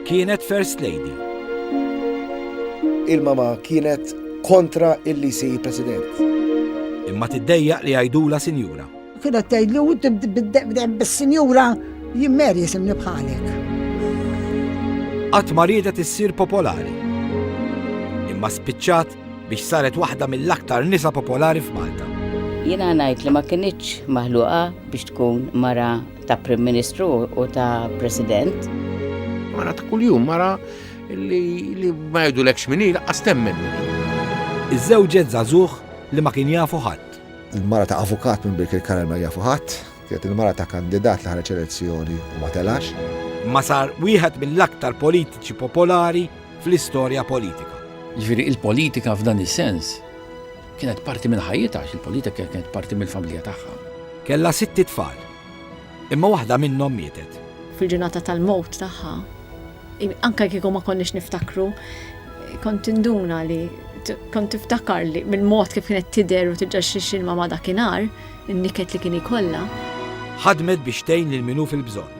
Kienet First Lady. Il-mama kienet kontra illi jsir president. Imma tiddejjaq li għajdula sinjura. Kienet tgħidli u tibdem bis-sinjura jimmer jisimni bħalek. Qatt ma riedet issir popolari. Imma spiċċat biex saret waħda mill-aktar nisa popolari f'Malta. Jiena ngħid li ma kinitx maħluqa biex tkun mara ta' Prim Ministru u ta' President. Mara ta' kuljum, mara li ma jgħidu l-ekx minni, laqqas temmen minni. Iż-żewġet zazuħ li ma kien jafu ħadd. Il-mara ta' avukat minn Birkir Karel ma jafu ħadd, kienet il-mara ta' kandidat li ħareġ elezzjoni u ma telax. Ma sar wieħed mill-aktar politiċi popolari fl-istorja politika. Ġifieri il-politika f'dan is-sens Kienet parti minn ħajjitha għax il-politika kienet parti mill-familja tagħha. Kellha sitt itfal, imma waħda minnhom mietet. Fil-ġurnata tal-mewt tagħha, anke kieku ma konniex niftakru, kont induna li kont tiftakar li mill-mod kif kienet tidher u tiġġa xi xilma ma' dakinhar, in-niket li kien ikollha. Ħadmet biex tgħin lil min hu fil-bżonn.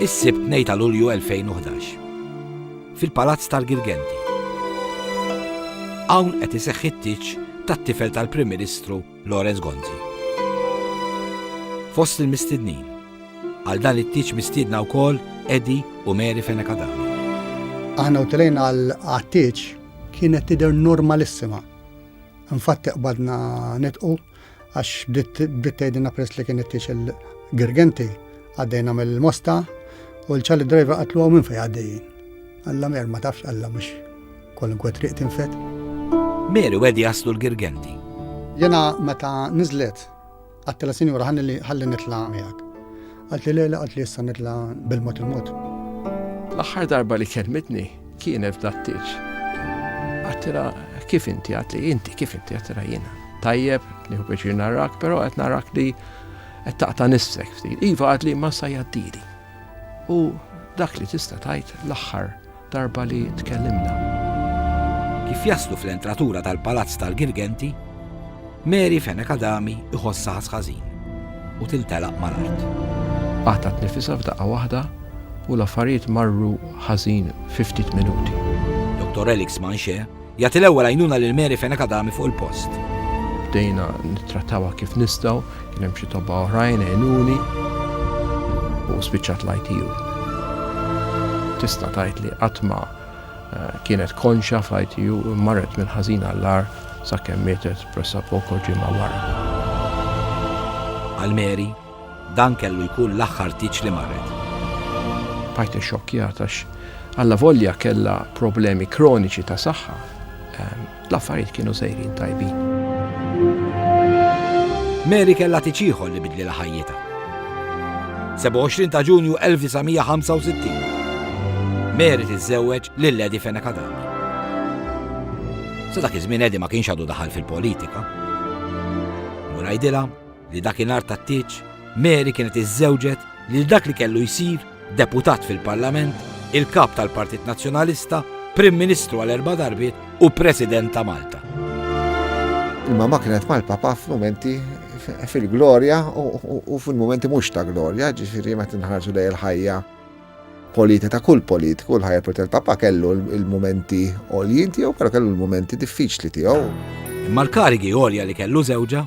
Is-Sibt 2 ta' Lulju 2011. Fil-Palazz tal-Girgenti. Hawn qed iseħħ it-tieġ tat-tifel tal-Prim Ministru Lawrence Gonzi. Fost il-mistednin, għal dan it-tieġ mistiedna wkoll Edi u Mary Fenekadam. Aħna u telejn għal-tieġ kienet tidher normalissima. Infatti qbadna nitqu għax bdiet tgħidilna peress li kien ittix il-Girgenti għaddejna mill-Mosta u l-ċalli driver qatlu għaw minn fej għaddejjin. Alla mer ma tafx alla mhux kwalunkwe triq tinfet. Meri wedi jaslu l-Girgenti. Jena meta nizlet għattila sinjura ħalli nitla miegħek. Għalt li lejla għalt li issa nitla' bil-mod il-mod. L-aħħar darba li kelmitni kienet f'dattiċ. Għattila kif inti għatli inti kif inti għattila jiena. Tajjeb, nieħu biex narak, però qed narak li qed taqta' nissek ftit. Iva għatli ma sa jaddili. U dak li tista' tajt l-aħħar Darba li tkellimna. Kif jaslu fl-entratura tal-palazz tal-Girgenti, Mary Fenech Adami iħossha ħass ħażin u tintelaq mal-art. Qatgħet nifisha f'daqqa waħda u l-affarijiet marru ħażin fi ftit minuti. Dottor Elix Manche Jagħti l-ewwel għajnuna lil Mary Fenech Adami fuq il-post. Bdejna nittrattawha kif nistgħu, kien hemm xi tobba oħrajn għenuni u spiċċat l-ITU. Tista' tgħid li qatt ma eh, kienet konxa fl-ITU marret minn ħażin għall-ar sakemm mietet pressa poco ġimgħa wara. Għal Mary, Dan kellu jkun l-aħħar tieġ li marret. Bqajt ixxokkjat għax allavolja kellha problemi kroniċi ta' saħħa, l-affarijiet kienu sejrin tajbin. Mary kellha tieġ ieħor li bidlilha ħajjitha. 27 ta' Ġunju 1965. Mary tiżżewweġ lil Lady Fenech Adami. Sa dak iż-żmien Edi ma kienx għadu daħal fil-politika. Murajdilha li dakinhar tat-tieġ, Mary kienet iżżewġet lil dak li kellu jsir Deputat fil-Parlament, il-Kap tal-Partit Nazzjonalista, Prim Ministru għal erba' darbiet u President ta' Malta. Il-mamma kienet mal-papa f'mumenti fil-glorja u fil-mumenti mhux ta' glorja, ġifieri meta nħarġu lej il-ħajja polita ta' kull politiku, l-ħajja polita tal-Papa kellu l-mumenti għoljin tiegħu, però kellu l-mumenti diffiċli tiegħu. Imma l-karigi għolja li kellu żewġa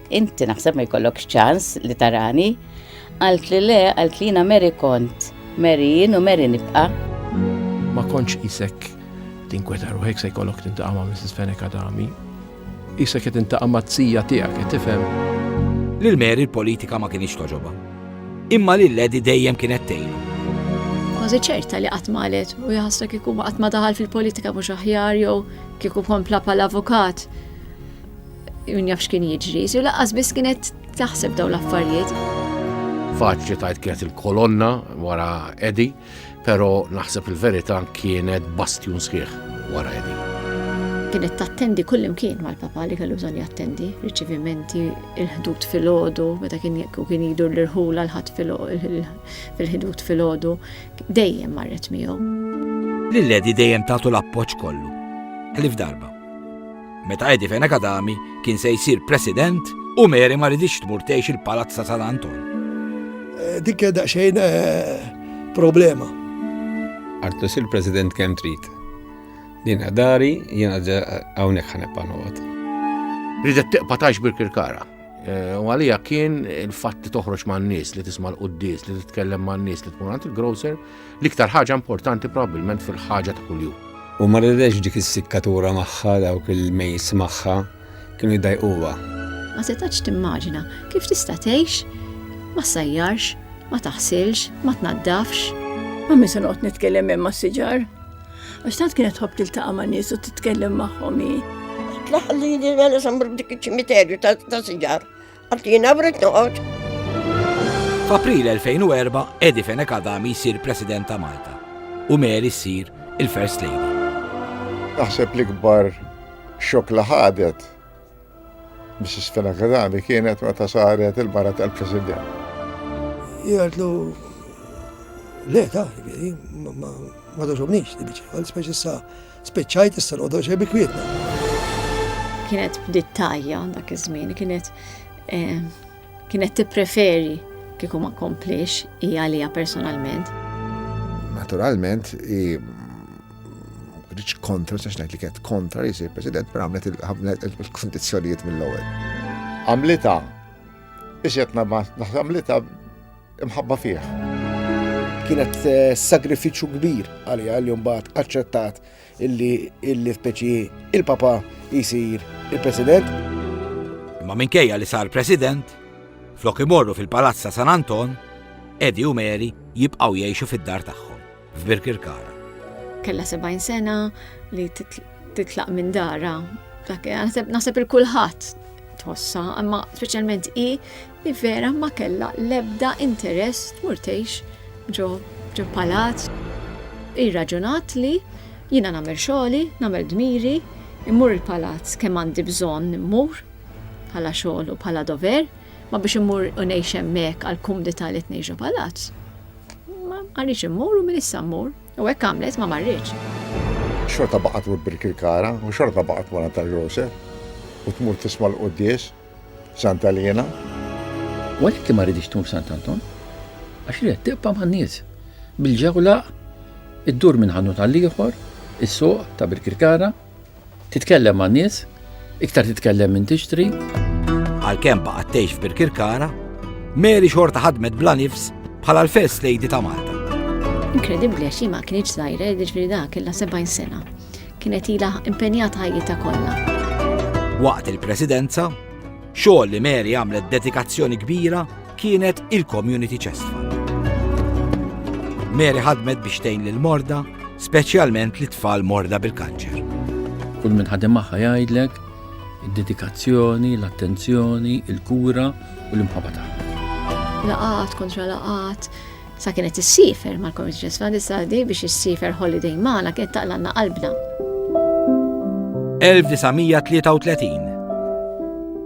Inti naħseb ma jkollokx ċans li tarani? Għalt li le, għalt li jina Mary kont, Mary jien u Mary nibqa. Ma konċ isek tinkweta ruħek se jkollok tintaqa' ma' Mrs. Fenek Adami. Isek qed tintaqa' ma' tzija tiegħek qed tifhem. Lil Mary l-politika ma kienx toġoba. Imma lil Ledi dejjem kienet tgħinu. Kważi ċerta li qatt malet u jħassra kieku qatt ma daħal fil-politika mhux aħjar jew kieku kompla pal-avukat Min jaf x'kien jiġri, si laqqas biss kienet taħseb dawn l-affarijiet. Faċli tajt kienet il-kolonna wara Edi, pero naħseb il-verità kienet bastjun sħiħ wara Edi kienet tattendi kull imkien mal-papa li kellu bżonn jattendi, riċivimenti, il-ħdut fil-ħodu, meta kien jekku kien jidur l-irħula l-ħat fil-ħdut fil-ħodu, dejjem marret miegħu. Lil-ledi dejjem tagħtu l-appoġġ kollu. Elif darba. Meta Eddie Fenakadami kien se jsir President u Mary ma ridix tmur tgħix il-Palazz ta' San Anton. Eh, dik kien daqsxejn eh, problema. Artu sir President kemm trid. Din dari jiena hawnhekk ħanebqa' noqgħod. Ridet tiqpa' tax bil-kirkara. Eh, u għalija kien il-fatt li toħroġ man nies li tisma' l-quddis, li titkellem man nies li tkun għand il-grocer, L-iktar ħaġa importanti probabbilment fil-ħaġa ta' kuljum. U ma ridx dik is-sikkatura magħha dawk il-mejs magħha kienu jdajquha. Ma setax timmaġina kif tista' tgħix ma sajjarx, ma taħsilx, ma tnaddafx. Ma min se noqgħod nitkellem hemm mas-siġar. Għax tant kienet tħobb tiltaqa' ma' nies u titkellem magħhom hi. Tlaħlili mela samr dik iċ-ċimiterju ta' siġar. Għax jiena brid noqgħod. F'April 2004 Eddie Fenech Adami jsir President ta' Malta u Mary ssir il-First Lady. Naħseb l-ikbar xok li ħadet Mrs. Fenech Adami kienet meta saret il-mara tal-President. Jgħidlu le ta' ma doġobniex, speċi sa' Spiċċajt issa noqgħodu xejn bikwietna. Kienet bdiet tajja dak iż-żmien, kienet eh, kienet tippreferi kieku ma komplix hija għalija personalment. Naturalment, rridx kontra, sax ngħid li kienet kontra li jsir president, per għamlet il-kondizzjonijiet mill-ewwel. Għamlita, biex qed għamlita Imħabba fih. Kienet eh, sagrifiċċju kbir għalija li mbagħad aċċettat illi illi speċi il-papa jisir il-president. Imma minkejja li sar president, flok imorru fil-palazza San Anton, Edi u Mary jibqaw jgħixu fid-dar tagħhom, f'Birkirkara. Kella 70 sena li titlaq minn dara. Naħseb il-kulħadd tħossa, imma speċjalment i li vera ma kellha l-ebda interess tmur tgħix ġo ġo palazz. Hi rraġunat li, Jiena nagħmel xogħli, nagħmel dmiri, immur il-palazz kemm għandi bżonn immur, bħala xogħol u bħala dover, ma biex immur u ngħix hemmhekk għall-kumdità li tngħix ġo palazz. Ma rridx immur u minn issa mmur. U hekk għamlet ma marritx. Xorta baqgħet tmur bil-kirkara u xorta baqgħet wara tal-grocer u tmur tisma' l-quddies Santa Liena. U għalhekk hi ma riditx tmur f'Sant Anton, għax ried tibqa' man-nies. Bil-ġewla ddur minn ħanut għal ieħor, is-suq ta' Birkirkara, titkellem man-nies, iktar titkellem minn tixtri. Għalkemm baqgħet tgħix f'Birkirkara, Mary xorta ħadmet bla nifs bħala l-First Lady ta' Malta. Inkredibbli għax ma kienx żgħira, jiġri dak illa 70 sena. Kienet ilha impenjata ħajjitha kollha. Waqt il-Presidenza, xogħol li Mary għamlet dedikazzjoni kbira kienet il-Community Chest Fund. Mary ħadmet biex tgħin lil morda, speċjalment li tfal morda bil-kanċer. Kull minn ħadem magħha jgħidlek id-dedikazzjoni, l-attenzjoni, il-kura u l-imħabba tagħha. Laqat kontra laqat, Sa kienet issiefer mal-Cornish Jazz Fund issa di biex issiefer holiday magħna kienet taqlalna qalbna. 1933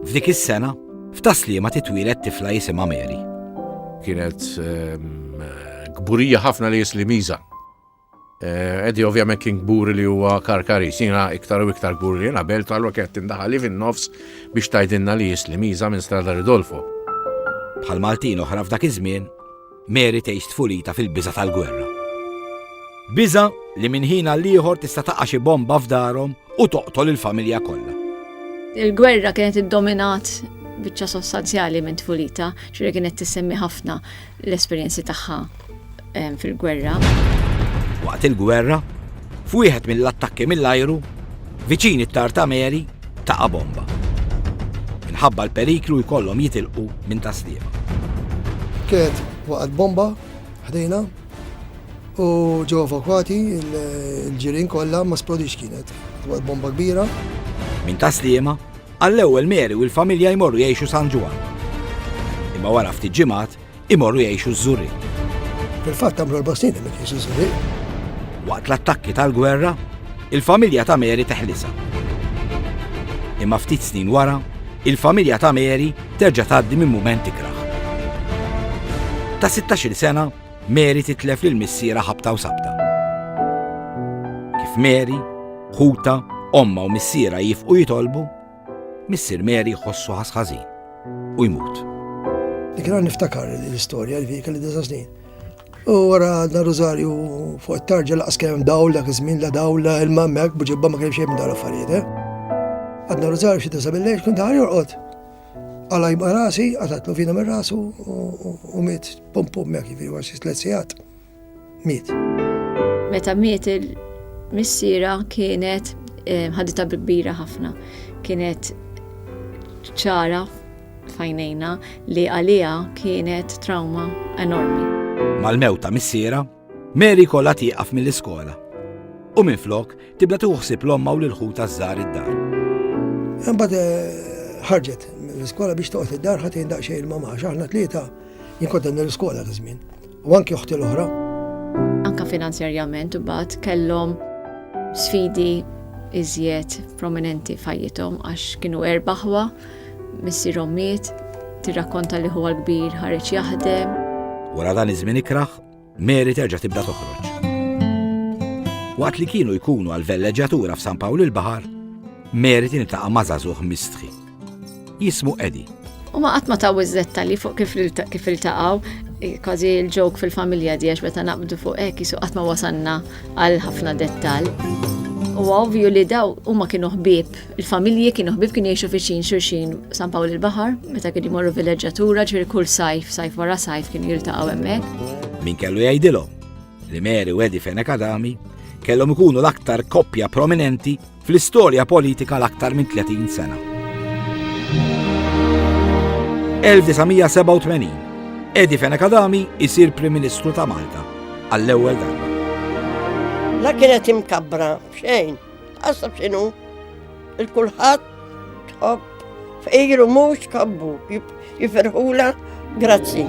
F'dik is-sena, f'Taslima titwielet tifla jisimha Mary. Kienet ehm, kburija ħafna li jislimiża. Eddie ovvjament kien kburi li huwa karkaris, jiena iktar u iktar kburi li jiena belt għallu kett indaħali fin-nofs biex tajdinna li jisli miża minn Strada Ridolfo. Bħal Maltin oħra f'dak iż-żmien, Mary tgħix tfulita fil-biża' tal-gwerra. Biża' li minn ħin għal ieħor tista' taqa' xi bomba f'darhom u toqtol il-familja kollha. Il-gwerra kienet iddominat biċċa sostanzjali minn tfulita, ġifieri kienet tissemmi ħafna l-esperjenzi tagħha fil-gwerra. Waqt il-gwerra, f'wieħed mill-attakki mill-ajru, viċin it-Tarta Mary taqa' bomba. Minħabba l-periklu jkollhom jitilqu minn taslima. Kienet waqgħet bomba ħdejna u ġew evakwati il-ġirien kollha ma splodix kienet. Waqgħet bomba kbira. Minn taslima Għall-ewwel Mary u l-familja jmorru jgħixu San Ġwann. Imma wara ftit ġimgħat imorru jgħixu ż-Żurrieq. Fil-fatt għamlu erba' snin hemm jgħixu ż-Żurrieq. Waqt l-attakki tal-gwerra, il-familja ta' Mary teħlisha. Imma ftit snin wara, il-familja ta' Mary terġa' tgħaddi minn mument ikrah. Ta' 16-il sena, Mary titlef lil missierha ħabta u sabta. Kif Mary, ħutha, ommha u missierha jiefqu jitolbu, missier Mary jħossu ħass ħażin u jmut. Dik għan niftakar l-istorja li kelli disa snin. U għara għadna Rosario fuq it-tarġa laqas kemm dawl dak iż-żmien la dawl la ilma mek bġibba ma kemm xejn dal affarijiet. Eh? Għadna Rosario xi disa billejx kont ħar jorqod. Għala jibqa rasi, għatatlu fina minn rasu u miet pum pum mek jivri għax jistlet sijat. Miet. Meta miet il-missira kienet eh, ħadita kbira ħafna. Kienet ċara fajnejna li għalija kienet trauma enormi. Mal-mewta missiera, Mary kollha tieqaf mill-iskola u minflok tibda tieħu ħsieb l-ommha u lil ħutha żgħar id-dar. Imbagħad eh, ħarġet mill-iskola biex toqgħod id-dar ħadd jgħin daqsxejn il-mama għax aħna tlieta jien kont l-iskola ta' żmien u anki oħti l-oħra. Anka finanzjarjament imbagħad kellhom sfidi iżjed prominenti fajjithom għax kienu erbaħwa, missierhom miet, tirrakkonta li huwa l-kbir ħareġ jaħdem. Wara dan iż-żmien ikraħ, Mary terġa' tibda toħroġ. Waqt li kienu jkunu għal velleġġatura f'San Pawl il-Baħar, Mary tintaqa' ma' żagħżugħ mistħi. Jismu Edi. U ma qatt ma taw iż-żetta li fuq kif kif iltaqgħu, kważi l-ġok fil-familja diex meta naqbdu fuq hekk jisu qatt ma wasanna għal ħafna dettal. U ovvju li daw huma kienu ħbieb Il-familji kienu ħbieb kienu jgħixu viċin xulxin San Pawl il-Baħar, meta kienu jmorru vileġġatura ġifieri kull sajf, sajf wara sajf kienu jiltaqgħu hemmhekk. Min kellu jgħidilhom li Mary u Eddie Fenech Adami kellhom ikunu l-aktar koppja prominenti fl-istorja politika l-aktar minn 30 sena. 1987 Eddie Fenech Adami isir Prim Ministru ta' Malta għall-ewwel darba. La kienet imkabbra, xejn. Għasab xinu, il-kulħat tħobb fejru mux kabbu, jiferħula, grazzi.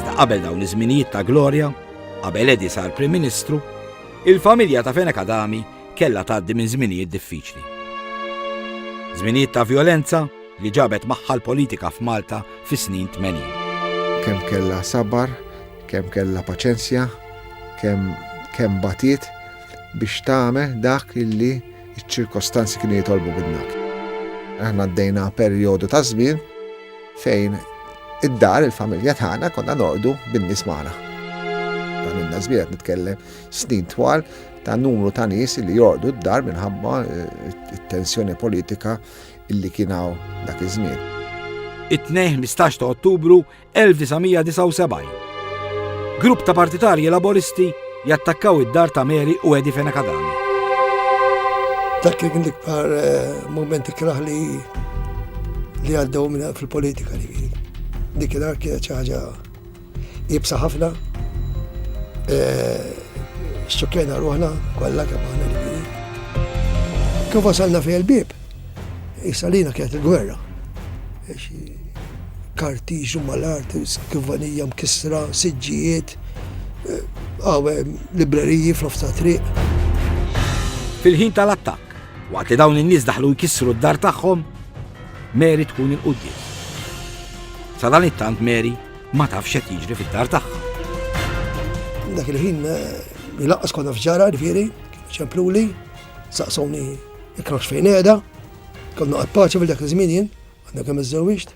Sta qabel dawn iż-żminijiet ta' Gloria, qabel Edi sar Prim Ministru, il-familja ta' Fenek Adami kella tgħaddi minn żminijiet diffiċli. Żminijiet ta' violenza li ġabet magħha l-politika f'Malta fis-snin 80. Kemm kella sabar, kemm kella paċenzja, kemm kemm batiet, biex tagħmel dak li ċ-ċirkostanzi kienu jitolbu minnek. Aħna għaddejna perjodu ta' żmien fejn id-dar, il-familja tagħna konna nordu bin-nies magħna. Dan minna żmien qed nitkellem snin twal ta' numru ta' nies li jordu d-dar minħabba eh, t-tensjoni politika illi kien hawn dak iż-żmien. It-tnejn 15 ta' Ottubru 1979. Grupp ta' partitarji Laboristi jattakkaw id-dar ta' Mary u Eddie Fenakadami. Dak kien l-ikbar eh, momenti kraħ li li għaddew minna fil-politika li kien. Dik il-ar kienet ċaħġa jibsa ħafna, eh, xċukjena ruħna, kolla kemana li kien. Kif wasalna fil-bib, Issa lina kienet il-gwerra. Kartiġu mal-art, skivanija mkissra, siġġijiet, għawe eh, libreriji fl-ofta triq. Fil-ħin tal-attakk, waqt li dawn in-nies daħlu jkissru d-dar tagħhom, Mary tkun il-qudiem. Sa dan it-tant Mary ma tafx qed jiġri fid-dar tagħha. Dak il-ħin eh, laqqas konna fġara, ġifieri, ċempluli, saqsawni Il-krawx fejn qiegħda, konna qatt paċi fil dak iż-żmien jien, għandna kemm iżżewwiġt.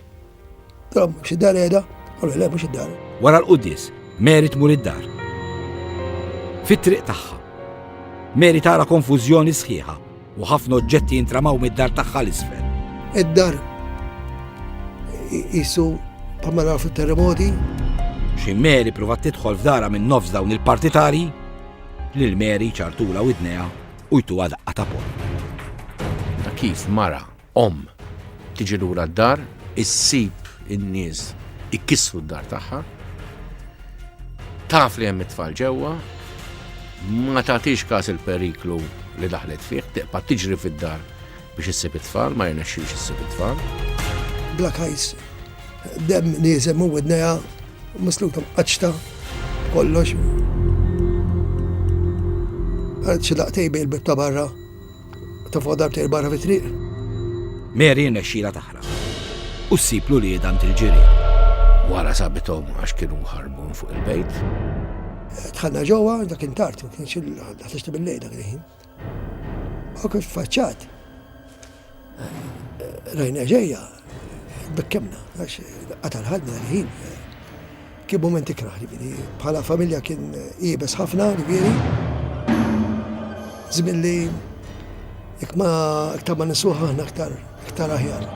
Dara mhux id-dar qiegħda, u le mhux id-dar. Wara l-quddies, Mary tmur id-dar. Fit-triq tagħha. Mary tara konfużjoni sħiħa u ħafna oġġetti jintramaw mid-dar tagħha l-isfel. Id-dar jisu bħalma naraw fit-terremoti. Xi Mary provat tidħol f'dara minn nofs dawn il-partitari lil Mary ċartula widnejha u jtuha daqqa ta' ponn. Ta' kif mara, omm, tiġi lura d-dar, issib in-nies ikissru d-dar tagħha, taf li hemm it-tfal ġewwa, ma tagħtix każ il-periklu li daħlet fih, tiqpa' tiġri fid-dar Biex issib it-tfal, ma jirnexxilx issib it-tfal. Black Eyes, dem nieżel minn widnejha, misluta mqaċċta kollox. Għad xi daqtej bejn il-bib ta' barra, ta' fuq darbtej barra fit-triq. Mary nexxila taħra. U ssib li dant il-ġiri. Wara sabitom għax kienu ħarbun fuq il-bejt. Tħanna ġewwa dak intart, ma kienx il-ħadd bil-lejl dak il-ħin. U kif faċċat, rajna ġejja, bekkemna, għax qatar ħadna l-ħin. Kien moment ikraħ, ġifieri, bħala familja kien jibes ħafna, ġifieri. Żmien li ikma iktar ma nisuħ aħna aktar iktar aħjar.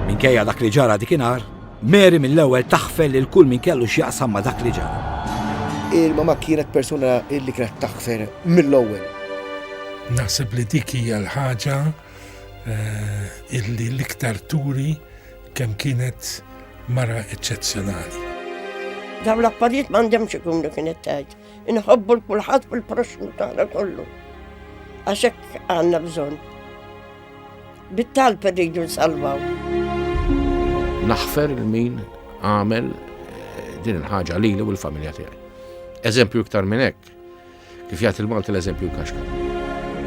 Minkejja dak li ġara dikinhar, Mary mill-ewwel taħfel lil kull min kellu x'jaqsam ma' dak li ġara. Il-mama kienet persuna li kienet taħfer mill-ewwel. Naħseb li dik hija l-ħaġa eh, illi l-iktar turi kemm kienet mara eċċezzjonali. Dawn l-affarijiet m'għandhemx ikunu kienet tgħid. Inħobbu l-kulħadd fil-proxmu tagħna kollu. Għax hekk għandna bżonn. Bit-talb irridu nsalvaw. Naħfer il-min għamel eh, din il-ħaġa li u l-familja tiegħi. Eżempju iktar minn hekk, kif jagħti l-Malti l-eżempju kaxka.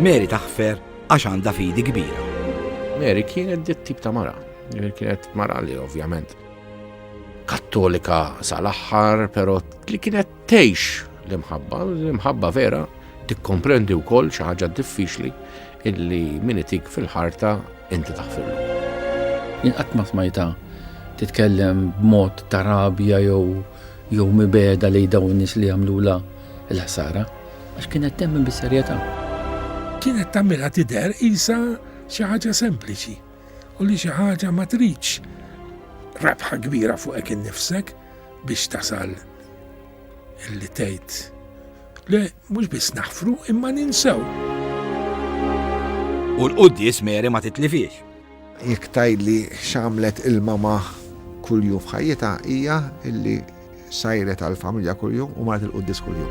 Mary taħfer għax għandha fidi kbira. Mary kienet dit tip ta' mara, kienet mara li ovvjament kattolika sal-aħħar, pero li kienet tgħix l-imħabba, l-imħabba vera tikkomprendi wkoll xi ħaġa diffiċli Illi min itik fil-ħarta inti taħfirlu. Jien qatt ma smajtha titkellem b'mod ta' rabja jew jew mibegħda lejn dawn in-nies li għamlulha l-ħsara, għax kienet temmen bis-serjetà. Kienet tagħmilha tidher qisha xi ħaġa sempliċi u li xi ħaġa ma tridx rebħa kbira fuqek innifsek biex tasal illi tgħid le. Mhux biss naħfru imma ninsew. U l-quddies Mary ma titlifiex. Jekk tgħidli x'għamlet il-mama kuljum f'ħajjitha hija illi sajret għall-familja kuljum u marret il-quddies kuljum.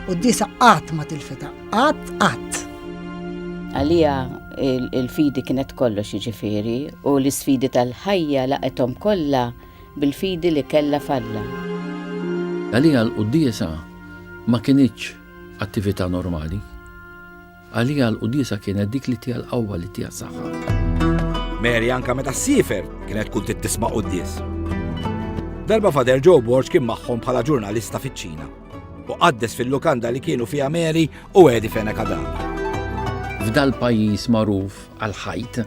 Quddiesa qatt ma tilfitha, qatt qatt. Għalija il-fidi kienet kollox jiġifieri u l-isfidi tal-ħajja laqethom kollha bil-fidi li kellha f'Alla. Għaliha l-quddiesa ma kinitx attività normali. Għaliha l-quddiesa kienet dik li tiha l-qawwa, li tiha s-saħħa. Mary anke meta ssiefer kienet tkun trid tisma' quddies. Darba Father Joe Borg kien magħhom bħala ġurnalista fiċ-Ċina. u qaddes fil-lukanda li kienu fiha Mary u Edi Fena Kadam. F'dal pajjiż magħruf għal ħajt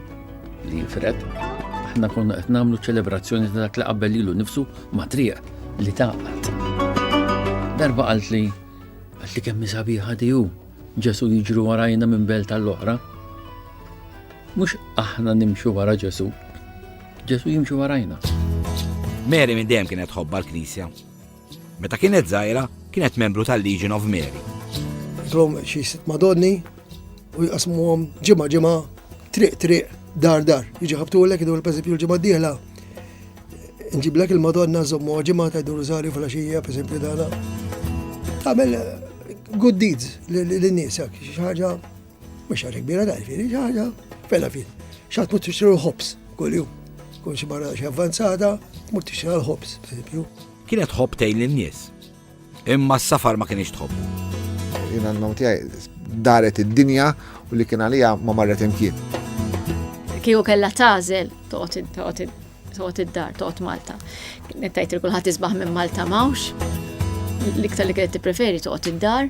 li jifred, aħna konna qed nagħmlu ċelebrazzjoni ta' dak li qabel ilu nifsu ma' triq li taqgħet. Darba qalt li qalt li kemm sabiħa diju Ġesu jiġru warajna minn belt tal-oħra. Mhux aħna nimxu wara Ġesu, Ġesu jimxu warajna. Mary minn dejjem kienet ħobba l-Knisja Meta kienet żgħira, kienet membru tal-Legion of Mary. Trom xi sitt Madonni u jqasmuhom ġimgħa ġimgħa triq triq dar dar. Jiġi ħabtulek idur pereżempju l-ġimgħa d-dieħla. Nġiblek il-Madonna żommu ġimgħa ta' dur żgħari fil-għaxija pereżempju dana. Tagħmel eh, good deeds lin-nies hekk xi ħaġa Mhux ħaġa kbira ta' ġifieri xi ħaġa fela fin. X'għad tmur tixtri l-ħobs kuljum. Tkun xi barra xi avvanzata, tmur tixtri l-ħobs, pereżempju. Kienet tħobb tgħin lin-nies. Imma s-safar ma kienx tħobbu. Jien għandhom tiegħi daret id-dinja u li kien għalija ma marret imkien. Kieku kellha tażel toqgħod toqgħod id-dar, toqgħod Malta. Nettajt il kulħadd isbaħ minn Malta mawx. L-iktar li kienet tippreferi toqgħod id-dar.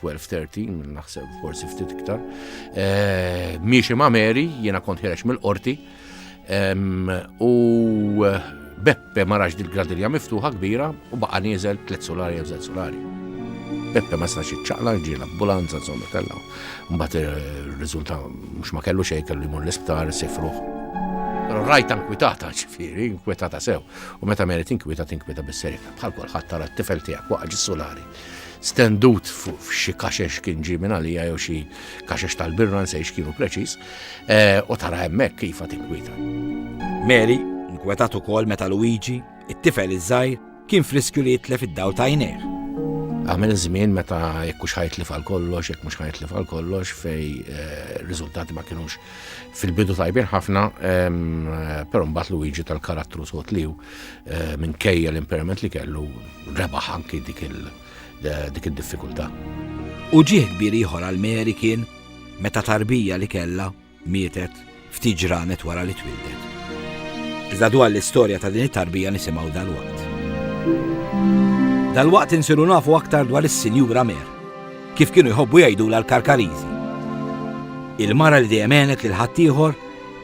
12-13, naħseb forsi ftit iktar. Eh, miexi ma' Mary, jiena kont ħirex mill-qorti. U eh, Beppe ma raġ dil-gradirja miftuħa kbira u baqa nieżel tliet solari jew żed solari. Beppe ma sax iċċaqla ġie l-ambulanza insomma kellha. Mbagħad ir-riżulta eh, mhux ma kellu xejn kellu jmur l-isptar sifruħ. Però rajta nkwitata ġifieri, nkwitata sew. U meta Mary tinkwita tinkwita bis-serjetà bħal kulħadd tara t-tifel tiegħek waqa' ġis-solari. stendut f'xi kaxex kien ġi minn għalija jew xi kaxex tal-birra nsejx kienu preċiż, eh, u tara hemmhekk kif tinkwita. Mary nkwetat ukoll meta Luigi, it-tifel iż-żgħir, kien friskju li jitlef id-daw ta' jnejh. Għamil żmien meta jekk mhux ħajtlif għal kollox, jekk mhux ħajtlif għal kollox fej eh, riżultati ma kienux fil-bidu tajbin ħafna, ehm, però mbagħad Luigi tal-karattru sot liw Eh, minkejja l-impairment li kellu rebaħ anki dik eh, id-diffikultà. U ġieħ kbir ieħor għal Mary kien meta tarbija li kella mietet ftit ġranet wara li twildet. Iżda dwar l-istorja ta' din it-tarbija nisimgħu dal-waqt. Dal-waqt insiru nafu aktar dwar is-Sinjura Mer, kif kienu jħobbu jgħidu l-karkarizi. Il-mara li dejjem għenet lil ħaddieħor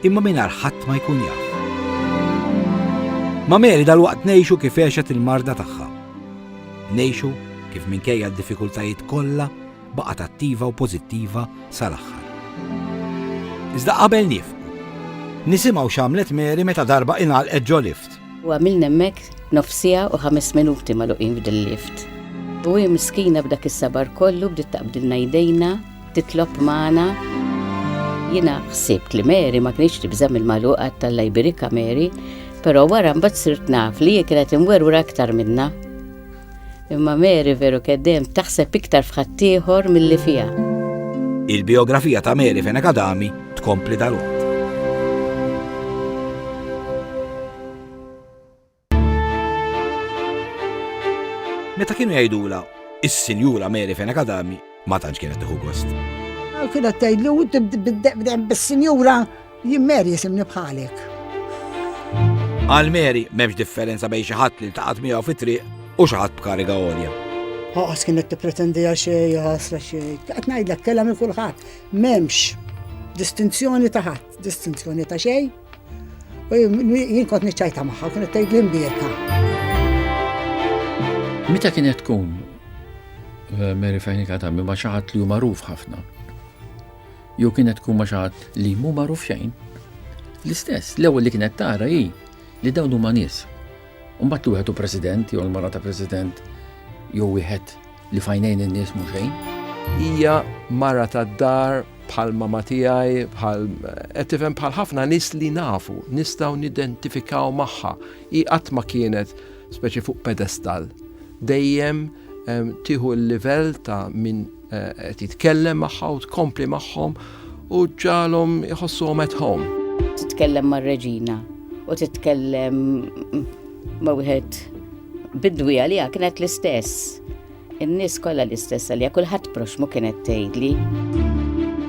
imma mingħajr ħadd ma jkun jaf. Ma' Mary dalwaqt ngħixu kif għexet il-marda tagħha. Ngħixu kif minkejja d-diffikultajiet kollha baqgħet attiva u pożittiva sal-aħħar. Iżda qabel nifqu, nisimgħu x'għamlet Mary meta darba ingħalqet ġo lift. U għamilna hemmhekk nofsija u ħames minuti magħluqin f'dil-lift. U hi miskina b'dak is-sabar kollu bdiet taqbdilna jdejna titlob magħna. Jiena ħsibt li Mary ma kienx tibża' mill-magħluqa tal-Alla jbirikha Mary, però wara mbagħad sirt naf li hi kienet imwerwra aktar minna. Imma Mary veru keddem taħseb iktar f'ħaddieħor milli fiha. Il-biografija ta' Mary Fenek Adami tkompli dal Meta kienu jgħidula is-Sinjura Mary Fena Kadami ma tantx kienet tieħu gost. Kienet tgħidlu bis-Sinjura jien Mary jisimni bħalek. Għal Mary m'hemmx differenza bejn xi ħadd li taqgħod miegħu fit-triq u xi ħadd b'kariga għolja. Ħaqas kienet tippretendi għal xejn, ħasra xejn. Qed ngħidlek kellha minn kulħadd. M'hemmx distinzjoni ta' ħadd, distinzjoni ta' xejn. U jien kont niċċajta magħha, kienet tgħid l-imbierka. Meta kienet tkun eh, Mary Fejnika ta' ma xaħat li hu magħruf ħafna. Jew kienet tkun ma xaħat li mhu magħruf xejn. L-istess, l-ewwel li kienet tara hi li dawn huma nies. Mbagħad wieħed u president jew l-mara ta' president jew wieħed Li f'għajnejn in-nies mhu xejn. Hija mara tad-dar bħal mama tiegħi, bħal qed tifhem bħal ħafna nies li nafu, nistgħu nidentifikaw magħha. Hi qatt ma kienet speċi fuq pedestal. Dejjem ehm, tieħu l-livell ta' min eh, qed jitkellem magħha u tkompli magħhom u ġalhom iħossuhom at home. Titkellem mar-reġina u titkellem ma' wieħed Bidwi għaliha kienet l-istess. In-nies kollha l-istess għaliha, kulħadd proxmu kienet tgħidli.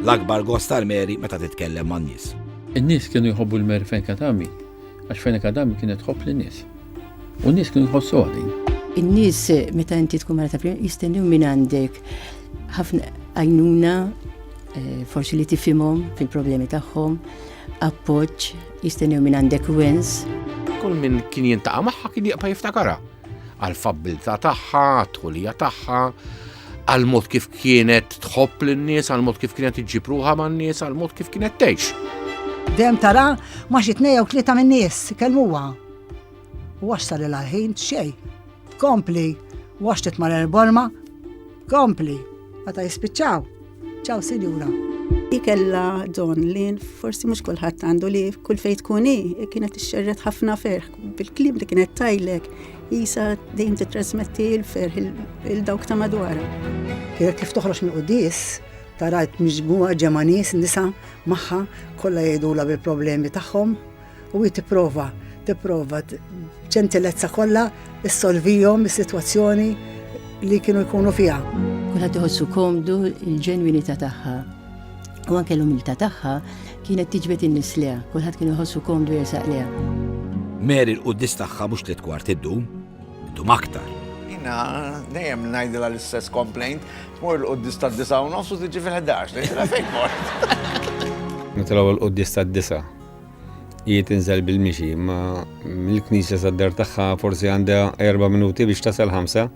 L-akbar gost tal-Mary meta titkellem man-nies. In-nies kienu jħobbu l-Mary fejn kienet għami, għax fejn kienet għami kienet tħobb lin-nies. U n-nies kienu jħossu għadin. In-nies meta inti tkun mara ta' jistennew minn għandek ħafna għajnuna eh, forsi li tifimhom fil-problemi tagħhom, Appoġġ jistennew minn għandek wins. Kull min kien jintaqa' magħha kien jibqa' jiftakarha għall-fabbiltà tagħha, għat-tħulija tagħha, għal mod kif kienet tħobb lin-nies, għal mod kif kienet iġġib ruħha man-nies, għal mod kif kienet tgħix. Dem tara ma xi tnejja u tlieta min-nies, kelmuha. U għax sar il-ħin xejn. Kompli, waxtet mar erborma, kompli. Meta jispiċċaw, ċaw sinjura. Ikella don li forsi mhux kulħadd għandu li kull fejn tkun hi kienet ixxerret ħafna ferħ bil-klim li kienet tajlek jisa dejjem titrasmetti l-ferħ il-dawk ta' madwara. Kienet kif toħroġ minn qudis tarajt miġmuwa ġemanies nisa magħha kollha jgħidula bil-problemi tagħhom U hi tipprova, tipprova b'ġentilezza kollha issolvihom is-sitwazzjoni li kienu jkunu fiha. Kulħadd iħossu komdu l-ġenwinità tagħha. U anke l-umiltà tagħha kienet tiġbed in-nies leha, kulħadd kien iħossu komdu jersaq leha. Mary l-quddis tagħha mhux tliet kwart iddum, iddum aktar. Jina, dejjem ngħidilha l-istess complaint, tmur l-quddis tad-disa u nofs u tiġi fil-11, ngħidilha fejn mort. Nitilgħu l-quddis tad-disa Hi tinżel bil-mixi, imma mill-knisja sad-dar tagħha forsi għandha erba' minuti biex tasal ħamsa.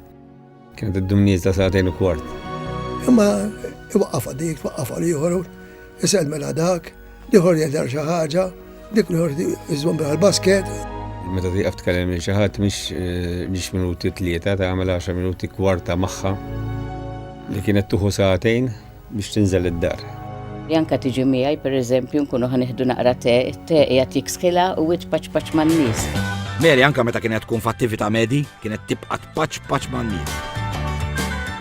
Kienet iddum nieżla sagħtejn u kwart. Imma iwaqqafha dik, twaqqafha l-ieħor, isellmela dak, l-ieħor jgħidha xi ħaġa, dik l-ieħor iżżomm bil basket Meta tieqaf tkellem lil xi ħadd mhix eh, minuti tlieta tagħmel 10 minuti kwarta magħha li kienet tuħu sagħtejn biex tinżel id-dar. Janka tiġi miegħi, pereżempju, nkunu ħa nieħdu naqra te, it-te qiegħed jiksħilha u wiċċ paċ paċ man-nies. Mary anka meta kienet tkun f'attività medi, kienet tibqa' tpaċ paċ man-nies.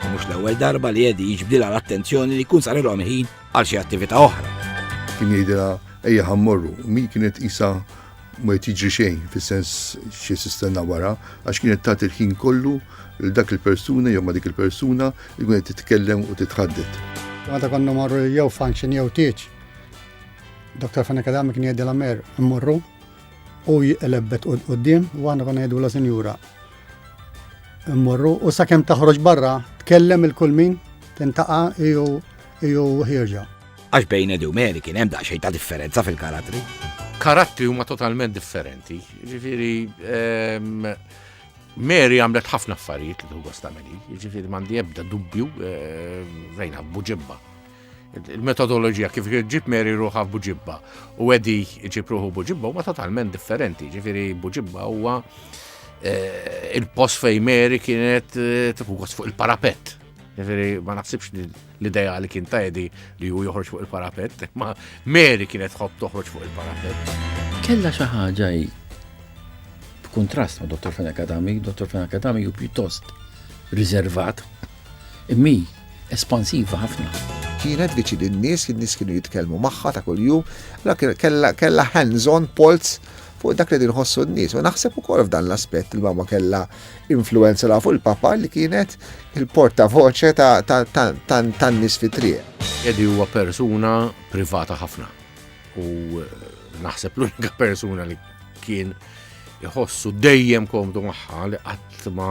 Mhux l-ewwel darba li Edi jiġbdilha l-attenzjoni li jkun sarilhom ħin għal xi attività oħra. Kien jgħidilha ejja ħammorru, mi kienet isa ma qed jiġri xejn fis-sens xi sistenna wara għax kienet tagħti l-ħin kollu lil dak il-persuna jew ma' dik il-persuna li kienet titkellem u titħaddet. Meta konna marru jew function jew tieġ, Dr. Fanek Adami kien jgħidilha mer immorru u jqlebbet qudiem u għandna konna jgħidu la sinjura. Immorru u sakemm taħroġ barra tkellem il-kull min tintaqa' jew ħierġa. Għax bejn Edu Meri kien hemm daqsxejn ta' differenza fil-karattri. Karattri huma totalment differenti. Ġifieri ehm, Mary għamlet ħafna affarijiet li tuħu stameli, ġifiri mandi ebda dubju eh, rejna buġibba. Il-metodologija kif ġib Mary ruħa buġibba u għedi ġib ruħu buġibba huma totalment differenti, ġifiri buġibba huwa eh, il-post fej Mary kienet eh, tuħu fuq il-parapet. Ġifiri ma naħsibx li L-ideali kien ta' Edi li hu joħroġ fuq il-parapett, ma Mary kienet tħobb toħroġ fuq il-parapett. Kella xi ħaġa hi b'kuntrast ma' Dr. Fenna Kadami, Dr. Fenna Kadami hu pjuttost riservat, immi espansiva ħafna. Kienet biċi li n-nies, n-nies kienu jitkellmu magħha ta' kuljum, la kella hands-on polz fuq dak li dinħossu n-nies. U naħseb ukoll f'dan l-aspett il-mama kella influenza la fuq il-Papa li kienet il-portavoċe tan-nies fit-triq. Edi huwa persuna privata ħafna u eh, naħseb l-unika persuna li kien iħossu dejjem komdu magħha li qatt ma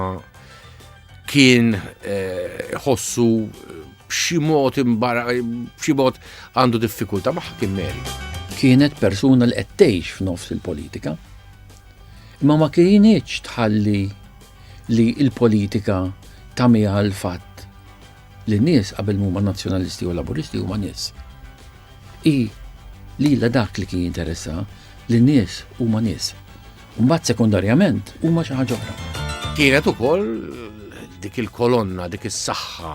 kien eh, iħossu eh, b'xi mod imbara b'xi mod għandu diffikultà magħha kien Mary. Kienet persuna li qed tgħix f'nofs il-politika Imma ma kinitx tħalli li l-politika tagħmiha l-fatt li n-nies qabel huma Nazzjonalisti u Laburisti huma nies. Hi lilha dak li kien jinteressa li n-nies huma nies. Mbagħad sekundarjament huma xi ħaġa oħra. Kienet ukoll dik il-kolonna, dik is-saħħa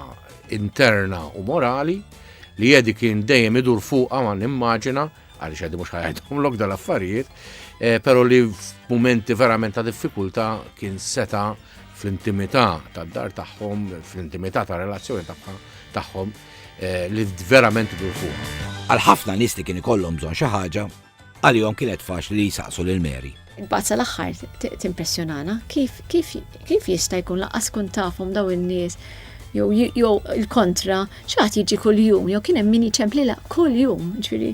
interna u morali li jedi kien dejjem idur fuqha ma nimmaġina għaliex għaddi mhux ħajħedhomlok dal-affarijiet, eh, però li f'mumenti verament ta' diffikultà kien seta' fl-intimità tad-dar tagħhom, fl-intimità ta' relazzjoni tagħhom eh, li verament dur fuq. Għal ħafna nies li kien ikollhom bżonn xi ħaġa, għalihom kienet faċli li jsaqsu lil Mary. Imbagħad sal-aħħar timpressjonana kif kif kif jista' jkun laqas kun tafhom daw in-nies jew jew il-kontra x'għad jiġi kuljum jew kien hemm min jiċemplilha kuljum, ġifieri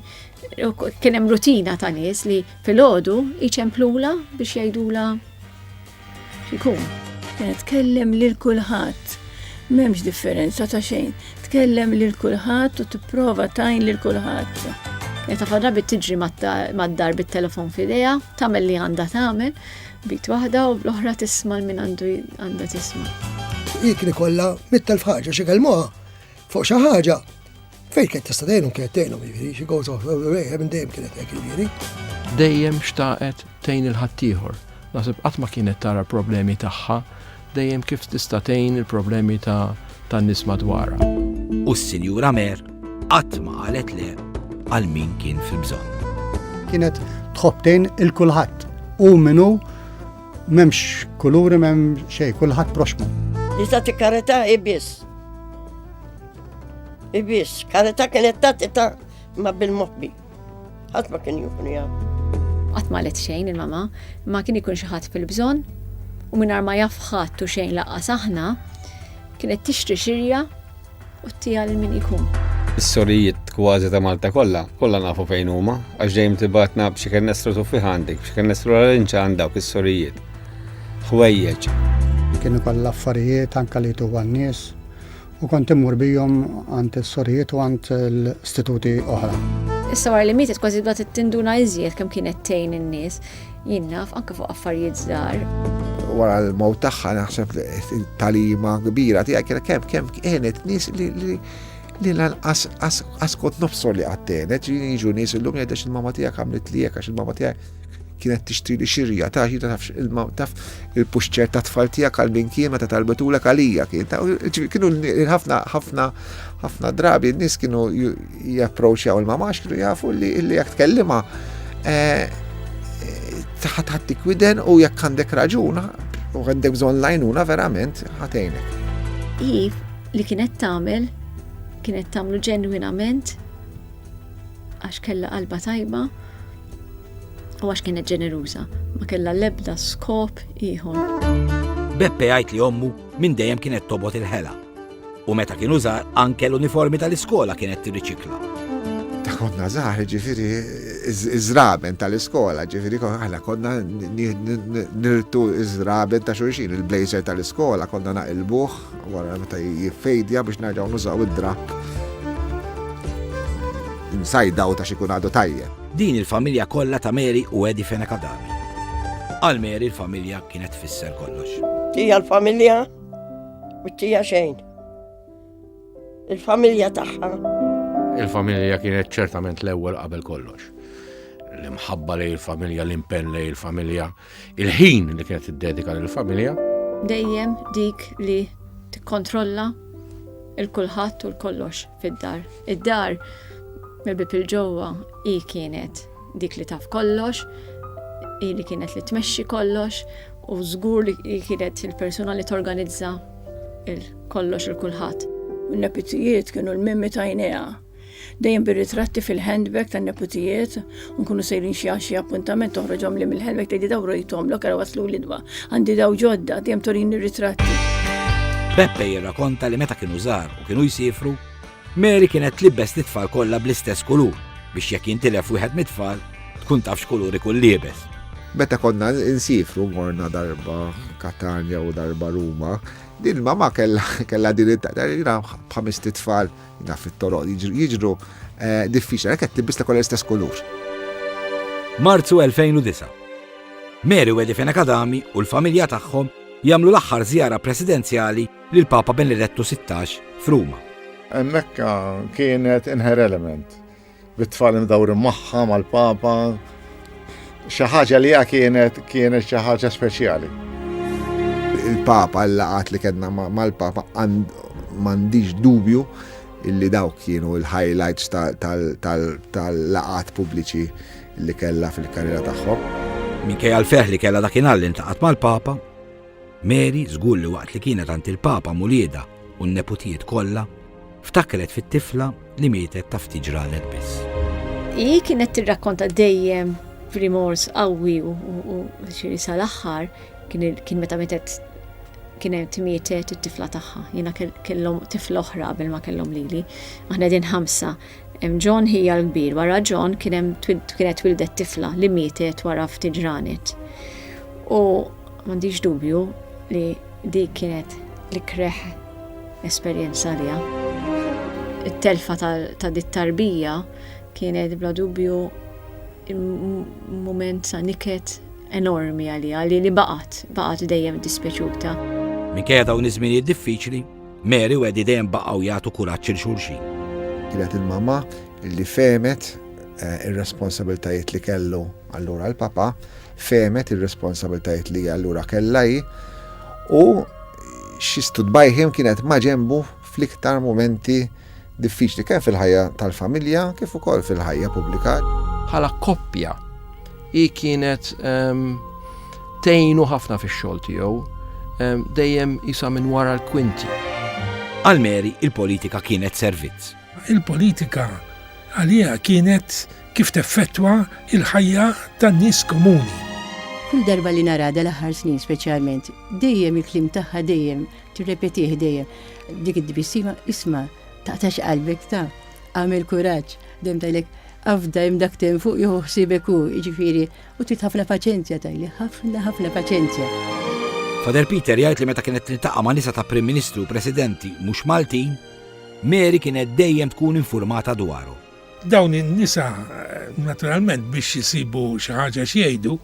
kien hemm rutina ta' nies li filgħodu jċemplula biex jgħidula Ikun, eh, tkellem lil kulħadd. M'hemmx differenza ta' xejn. Tkellem lil kulħadd u tipprova tajn lil kulħadd. Meta fadra bit tiġri mad-dar bit-telefon f'idejha, tagħmel li għandha tagħmel, bit waħda u l-oħra tisma' l-min għandu għandha tisma'. Ikni kollha mit-telf ħaġa xi kelmuha fuq xi ħaġa Fej kien tista' tgħinhom kienet tgħinhom jiġri, she goes off away, eh, minn dejjem kienet hekk jiġri. Dejjem xtaqet tgħin il-ħaddieħor, naħseb qatt ma kienet tara problemi tagħha, dejjem kif tista' tgħin il-problemi ta' tan-nies madwarha. U s-Sinjura Mer qatt ma qalet le għal min kien fil-bżonn. Kienet tħobtejn il-kulħadd u minnu memx kuluri mem xej, kulħadd proxmu. Li ta' tikkareta ibis. Ibis, karita kienet tatita ma bil-mobbi. Għat ma kien jukun jgħam. Għat ma let xejn il-mama, ma kien ikun xaħat fil-bżon, u minar ma jafħat u xejn laqqa saħna, kienet tixtri xirja u t-tija l-min ikun. Is-sorijiet kważi ta' Malta kollha, kollha nafu fejn huma, għax dejjem tibatna b'xi kien nestru tuffi għandek, b'xi kien nestru l-inċa għandha is-sorijiet. Ħwejjeġ. Kienu kollha affarijiet anke li tu għan-nies U kont immur bijom għand is-sorijiet u għand l-istituti oħra. Issa wara li mietet kważi bdat tinduna iżjed kemm kienet tgħin in-nies, jien naf anke fuq affarijiet żgħar. Wara l-mowt tagħha naħseb talima kbira tiegħek kienet kemm kemm kienet nies li li lanqas askot nofsor li għattenet, jiġu nies illum jgħidex il-mama tiegħek għamlet li għax il-mama tiegħek kienet tixtri li xirja ta' xi tafx ilma taf il-puxċer ta' tfal tiegħek għal min kien meta talbetulek għalija kien ta' kienu ħafna ħafna ħafna drabi n-nies kienu japproċċjaw il-mamax kienu jafu li li jekk tkellima eh, taħat ħattik widen u jekk għandek raġuna u għandek bżonn lajnuna verament ħatejnek. Iv li kienet tagħmel kienet tagħmlu ġenwinament għax kella qalba tajba U għax kienet ġeneruża, ma kellha l-ebda skop ieħor. Beppe jgħid li ommu minn dejjem kienet tobot il-ħela u meta kienu żgħar anke l-uniformi tal-iskola kienet tirriċikla. Ta' konna żgħar ġifieri iż-żraben tal-iskola, ġifieri aħna konna nirtu iż-żraben ta' xulxin, il-blazer tal-iskola konna naqilbuh Wara meta jiffejdja biex nerġgħu nużaw id-drapp insajdaw ta' xi kun għadu tajjeb. Din il-familja kollha ta' Mary u Eddie Fenech Adami. Għal Mary l-familja kienet tfisser kollox. Tija l-familja u tija xejn. Il-familja tagħha. Il-familja kienet ċertament l-ewwel qabel kollox. L-imħabba lej il-familja, l-impenn lej il-familja. il familja Il-ħin li kienet tiddedika lill-familja. Dejjem dik li tikkontrolla il-kulħadd u l-kollox fid-dar. Id-dar mill-bib il-ġewwa hi kienet dik li taf kollox, hi li kienet li tmexxi kollox u żgur li kienet il-persuna li torganizza il-kollox il-kulħadd. Il-nepitijiet kienu l-mimmi tajnejha. Dejjem bir-ritratti fil-handbag tan-neputijiet, u nkunu sejrin xi għal xi appuntament toħroġhom li mill-handbag tgħidi daw rojthom lok ara waslu l-idwa. Għandi daw ġodda, dejjem torini r-ritratti. Beppe jirrakonta li meta kienu żgħar u kienu jsifru, Mary kienet tlibbes lit-tfal kollha bl-istess kulur biex jekk jintilef wieħed mit-tfal tkun taf x'kulur ikun liebes. Meta konna nsifru morna darba Katanja u darba Ruma, din ma ma kellha din it-taqdar bħamist it-tfal Da fit-toroq jiġru eh, diffiċli, għalhekk qed tibbis kollha l-istess kulur. Marzu 2009. Mary Wedi Fenakadami u l-familja tagħhom jagħmlu l-aħħar żjara presidenzjali lil Papa Benedettu 16 f'Ruma. Mekka kienet inher element. bit-tfal imdawrin magħha mal-Papa, xi ħaġa li kienet kienet xi ħaġa speċjali. Il-Papa, l-laqat li kedna mal-Papa, m'għandix dubju illi dawk kienu l-highlights tal-laqat pubbliċi li kella fil-karriera tagħhom. Minkejja l-ferħ li kella dakinhar li ntaqat mal-Papa, Mary żgur li waqt li kienet għand il-Papa m'uliedha u n-neputijiet kollha, ftakret fit-tifla li mietet ta' ftit ġranet biss. Hi kienet tirrakkonta dejjem b'rimors qawwi u xiri sal-aħħar kien meta mietet kien hemm tmietet it-tifla tagħha. Jiena kellhom tifla oħra qabel ma kellhom lili. Aħna din ħamsa Hemm John Hija l-kbir. Wara John kien hemm kienet twildet tifla li mietet wara ftit ġranet. U m'għandix dubju li dik kienet li kreħ esperjenza liha. It-telfa ta' dit tarbija kienet bla dubju moment sa' niket enormi għalija li li baqat, baqat dejjem dispjaċuta. Minkejja dawn iż-żminijiet diffiċli, Mary u Eddie dejjem baqgħu jagħtu kuraġġ 'il xulxin. Kienet il-mamma li fehmet eh, ir-responsabiltajiet li kellu allura l-papa, fehmet ir-responsabiltajiet li allura kellha hi u xi studbajħim kienet ma' ġembu fl-iktar momenti diffiċli kemm fil-ħajja tal-familja kif ukoll fil-ħajja pubblika. Bħala koppja, hi kienet ehm, tgħinu ħafna fix-xogħol tiegħu, ehm, dejjem isa minn wara l-kwinti. Għal Mary il-politika kienet servizz. Il-politika għalija kienet kif teffettwa il-ħajja tan-nies komuni. Kull darba li narada l-aħħar snin speċjalment, dejjem il-klim tagħha dejjem Tirrepetih dejjem. Dik id-dbissima isma' taqtax qalbek ta' għamil kuraġġ dem tajlek afda hemm dak tem fuq jieħu ħsiebek hu, jiġifieri, u trid ħafna paċenzja tajli, ħafna ħafna paċenzja. Fader Peter jgħid li meta kienet tiltaqa' ma' nisa ta' Prim Ministri u Presidenti mhux Maltin, Mary kienet dejjem tkun infurmata dwaru. Dawn in-nisa naturalment biex isibu xi ħaġa x'jgħidu,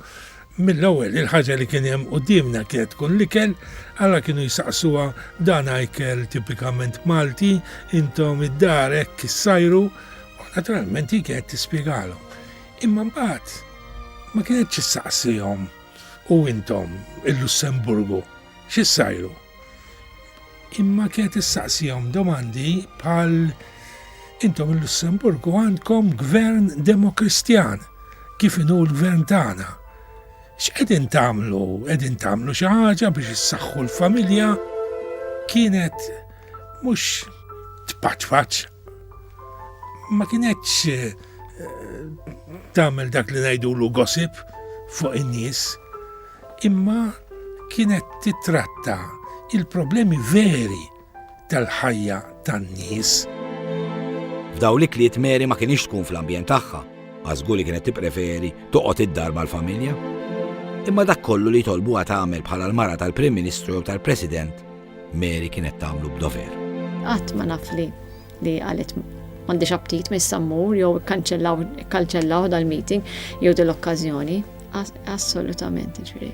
mill-ewwel il-ħaġa li kien hemm quddiemna kienet tkun l-ikel, alla kienu jsaqsuha dan ikel tipikament Malti, intom id-dar hekk issajru, u naturalment hi kienet tispjegalhom. Imma mbagħad ma kienetx issaqsihom u intom il-Lussemburgu x'issajru? Imma kienet issaqsihom domandi bħal intom il-Lussemburgu għandkom gvern demokristjan kif inhu l-gvern tagħna. X'qegħdin tagħmlu? Qegħdin tagħmlu xi ħaġa biex issaħħu l-familja? Kienet mhux tpaċfaċ. Ma kienetx eh, tagħmel dak li ngħidulu gossip fuq in-nies. imma kienet tittratta il-problemi veri tal-ħajja tan-nies. F'dawn l-ikliet Mary ma kinitx tkun fl-ambjent tagħha, għax żgur li kienet tippreferi toqgħod id-dar mal-familja. Imma dak kollu li jtolbuha tagħmel bħala l-mara tal-Prim Ministru jew tal-President, Mary kienet tagħmlu b'dover. Qatt ma naf li li qalet m'għandix aptit minn sammur jew ikkanċellaw dal-meeting jew dil-okkażjoni. Assolutament, ġri.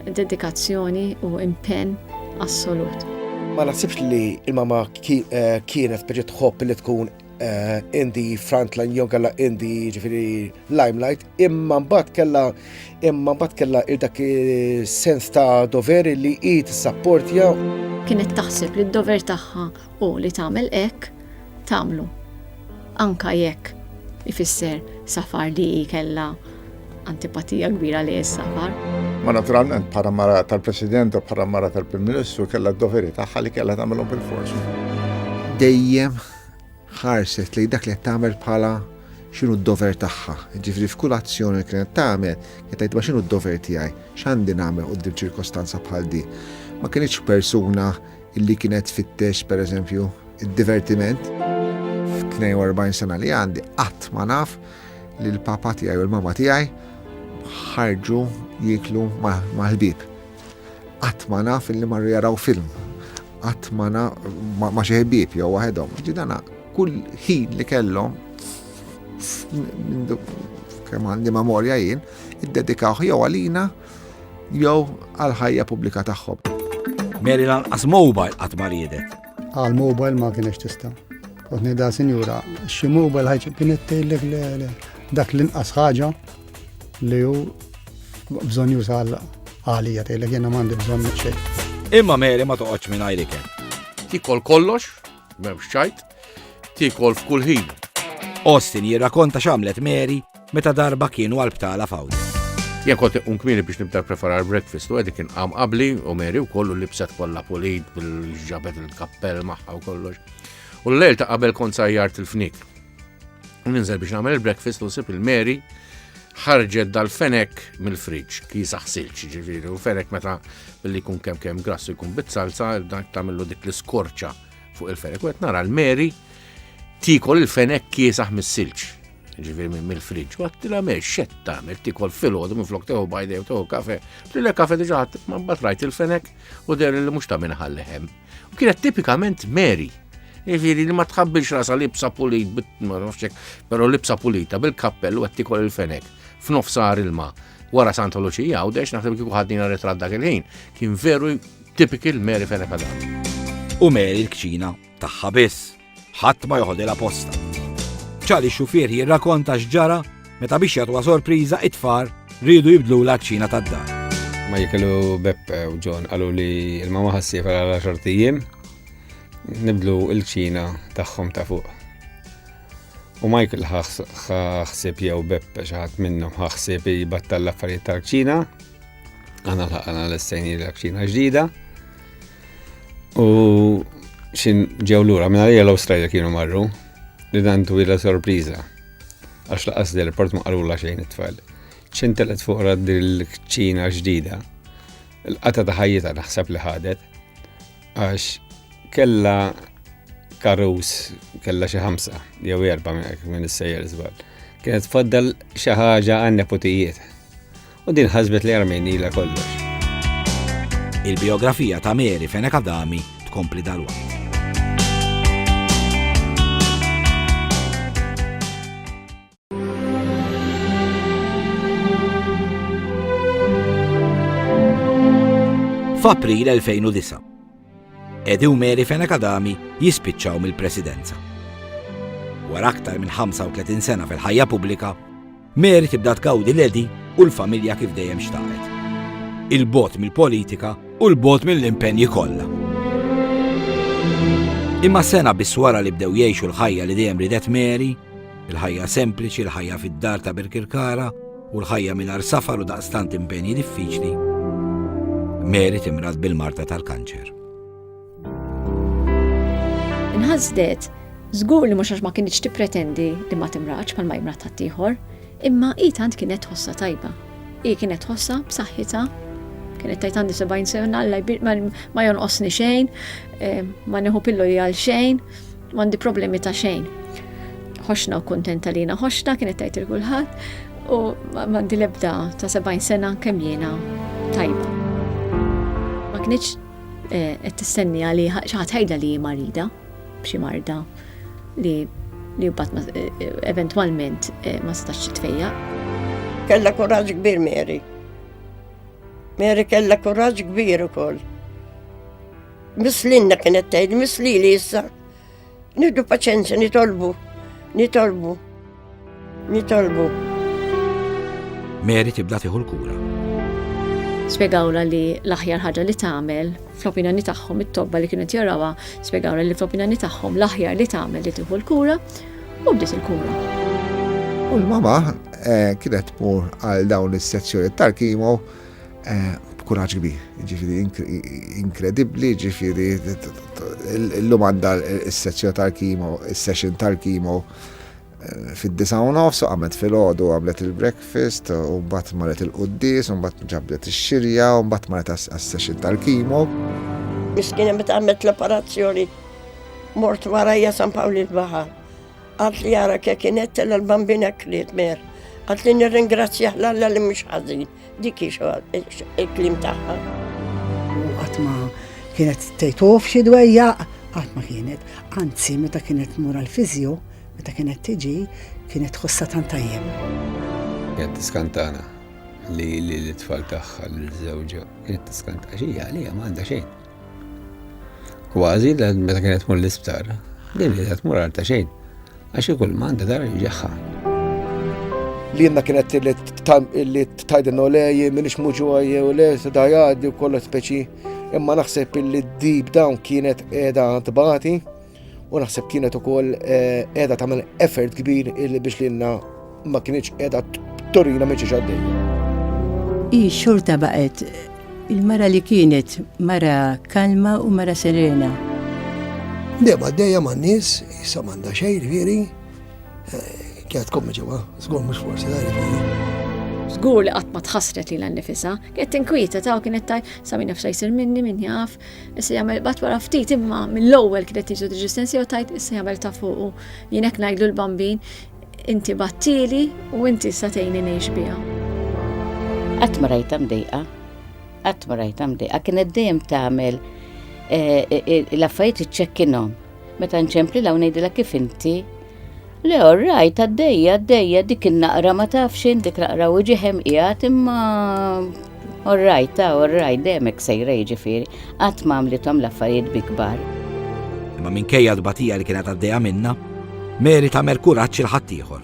Dedikazzjoni u impenn assolut. Ma nasibx li il-mama eh, kienet biex tħobb li tkun eh, indi frontline jew għalla indi ġifiri limelight, imma mbagħad kella imma mbagħad kella dak sens ta' doveri li hi tissapport jew. Kienet taħseb li d-dover tagħha u li tagħmel hekk tagħmlu. Anke jekk ifisser safar li hi kellha antipatija kbira li s-safar. Ma naturalment bħala mara tal-President u bħala mara tal-Prim Ministru kellha d-doveri tagħha li kellha tagħmilhom bil-forsi. Dejjem ħarset li dak li qed tagħmel bħala x'inhu d-dover tagħha. Ġifieri f'kull azzjoni li kienet tagħmel, qed tgħid ma x'inhu d-dover tiegħi, x'għandi nagħmel quddiem ċirkostanza bħal di. Ma kienx persuna Illi kienet tfittex, per eżempju, id-divertiment. F'42 sena li għandi qatt ma naf li l-papa tiegħi u l-mama tiegħi ħarġu jiklu mal-ħbib. Qatt ma naf illi marru jaraw film. Qatt ma ma xi ħbib jew waħedhom. Ġidana kull ħin li kellhom kemm għandi memorja jien, iddedikawh jew għalina jew għall-ħajja pubblika tagħhom. Mary lanqas mobile qatt ma riedet. Għal mobile ma kienx tista'. Kont ngħidha sinjura, xi mobile ħajġ kienet tgħidlek dak l-inqas ħaġa li hu bżonn juża għalija tgħidlek jiena m'għandi bżonn xejn. Imma Mary ma toqgħodx minn għajrik. Tikol kollox, m'hemmx ċajt, tikol f'kull ħin. Austin jirrakonta x'għamlet Mary Meta darba kienu għal-btala fawda. Jien kont iqum kmini biex nibda preparar breakfast u għedi kien qam qabli u meri u kollu libset kollha pulit bil-ġabet il-kappell magħha u kollox. U l-lejl ta' qabel kont sajjart il-fnik. U ninżel biex nagħmel il-breakfast u sib il-meri ħarġet dal-fenek mill-friġ, kisa ħsilċ ġifiri, u fenek meta billi kun kem kem grassu jkun bit-salsa, dak tamillu dik l-skorċa fuq il-fenek. U qed nara l-Mary tikol il-fenek kiesaħ mis-silġ. Ġifieri minn mill-friġġ. U għattila mer xed tagħmel tikol filgħodu minn flok teħu bajdew teħu kafe. Lilla kafe diġà ma mbagħad rajt il-fenek u der li mhux ta' minn ħalleħem. U kienet tipikament Mary. Ġifieri li ma tħabbilx rasa libsa pulit, ma nafxek, però libsa pulita bil-kappell u qed tikol il-fenek f'nofsar il-ma' wara Santa Luċija u dex naħseb kieku ħadnina retrat dak il-ħin. Kien veru Typical Mary Fenech Adam. U Mary l-kċina tagħha biss. Ħadd ma joħodilha posta. Charlie xufier jirrakonta x'ġara meta biex jagħtuha sorpriża it-tfar rridu jibdlu l-kċina tad-dar. Ma jikilu Beppe u John qalu li l-mama ħassifa għal 10 tijiem nibdlu l-ċina tagħhom ta' fuq. U Michael ħaxsib jew Beppe xaħat minnhom ħaxsib jibattal l-affarijiet tal-ċina Għana l-ħakana l-estajni l-akċina ġdida. U xin ġew l-ura, minna li l-Australia kienu marru, li dan twila sorpriza. Għax laqas del port ma qalu la xejn it-tfal. ċin telet fuq rad il-kċina ġdida. Il-qata ta' ħajjita naħseb li ħadet. Għax kella karus, kella xi ħamsa, jew erba minn is-sejjer żball. Kienet faddal xi ħaġa għan-neputijiet. U din ħasbet li armejnila kollox. Il-biografija ta' Mary Fenek Adami tkompli dalwa. f'April 2009. Edi u Mary Fenek Adami jispiċċaw mill-presidenza. Wara aktar minn 35 sena fil-ħajja pubblika, Mary tibda tgawdi l-Għedi u l-familja kif dejjem xtaqet. Il-bogħod mill-politika u l-bogħod mill-impenji kollha. Imma sena biss wara li bdew jgħixu l-ħajja li dejjem ridet Mary, il-ħajja sempliċi, il-ħajja fid-dar ta' Birkirkara u l-ħajja mingħajr safar u daqstant impenji diffiċli, Mary timrad bil-marta tal-kanċer. Inħasdet, żgur li mhux għax ma kienx tippretendi li ma timraċ bħal ma jimrat ħaddieħor, imma hi tant kienet ħossa tajba. Hi kienet ħossa b'saħħitha, kienet tajt għandi 70 sena alla ma jonqosni xejn, eh, ma neħu pillu għal xejn, ma għandi problemi ta' xejn. Ħoxna u kontenta li ħoxna kienet tajt il-kulħadd u ma għandi lebda ta' 70 sena kemm jiena tajba. Ma kienx Eh, qed tistenniha li xi ħadd ħajdha li hi marida b'xi marda li li mbagħad eh, eh, eventwalment ma setax tfejja. Kella kuraġġ kbir Mary. Mary kella kuraġġ kbir ukoll. Mislinna kienet tgħid, mislili issa Nieħdu paċenzja, nitolbu, nitolbu, nitolbu. Mary tibda tieħu l-kura. Spiegawla li l-aħjar ħaġa li tagħmel fl-opinjoni tagħhom it-tobba li kienet jarawha, spiegawla li fl-opinjoni tagħhom l-aħjar li tagħmel li tieħu l-kura u bdiet il-kura. U l-mama eh, kienet tmur għal dawn is-sezzjoni tal-kimo b'kuraġġ kbir, ġifiri inkredibbli, ġifiri l-lum għandha s-sezzjoni tal-kimo, s-session tal-kimo eh, fid-disa u nofs, għamlet fil-ħodu, għamlet il-breakfast, u bat marret il-qoddis, u bat ġabdet il-xirja, u bat marret għas-session tal-kimo. Miskina met għamlet l-operazzjoni, mort warajja San Pawli l-Bahar. Għat li għara kienet l-bambina kliet mer. Għat li nirringrazzjaħ l-alla li mux ħazin. Dik hi il-kliem tagħha. U qatt ma kienet tgħidhuf xi dwejjaq, qatt ma kienet. Anzi, meta kienet tmur għall-fiżju, meta kienet tiġi, kienet tħossha tant tajjeb. Kienet tiskantana li l-tfal tagħha l-żewġa kienet tiskanta xi għalija ma għandha xejn. Kważi l meta kienet mur l-isptar, din li qed mur għal ta' xejn, għax ikul manda dar ġaħħa. Li jenna kienet li tajdin u lej, minix muġuħaj u lej, da jgħaddi u kollu speċi, imma naħseb li d-dib dawn kienet edha tbati, U naħseb kienet ukoll eh, qiegħda tagħmel effort kbir illi biex lilna ma kienx qiegħda torina minn xi xaddej. Hi xorta baqgħet il-mara li kienet mara kalma u mara serena. Dema dejja ma' nis, jissa manda xej, veri, eh, kienet kommi ġewa, zgur mux forsi da' veri. Zgur li għatma tħasret li l-nifisa, kienet tinkwieta ta' kienet ta' samin nafsa jisir minni minn jaf, Issa jagħmel bat wara ftit imma mill-ewwel kienet tiġu diġistensja u tajt issa jagħmel ta' fuqu. Jien hekk ngħidlu l-bambin, inti battili u inti sa tgħinni ngħix biha. Qatt ma rajta mdejqa, qatt ma rajta mdejqa, kienet dejjem tagħmel eh, eh, eh, l-affarijiet iċċekkinhom. Meta nċempli law ngħidilek kif inti. Le orrajt għaddejja għaddejja dik in-naqra ma taf xejn dik naqra u ġeħem qiegħed imma orrajt ta' orrajt demek sejra jiġifieri qatt ma għamlithom l-affarijiet bi kbar. Imma minkejja l-batija li kienet għaddejja minna, Mary ta' merkuraċ il-ħaddieħor.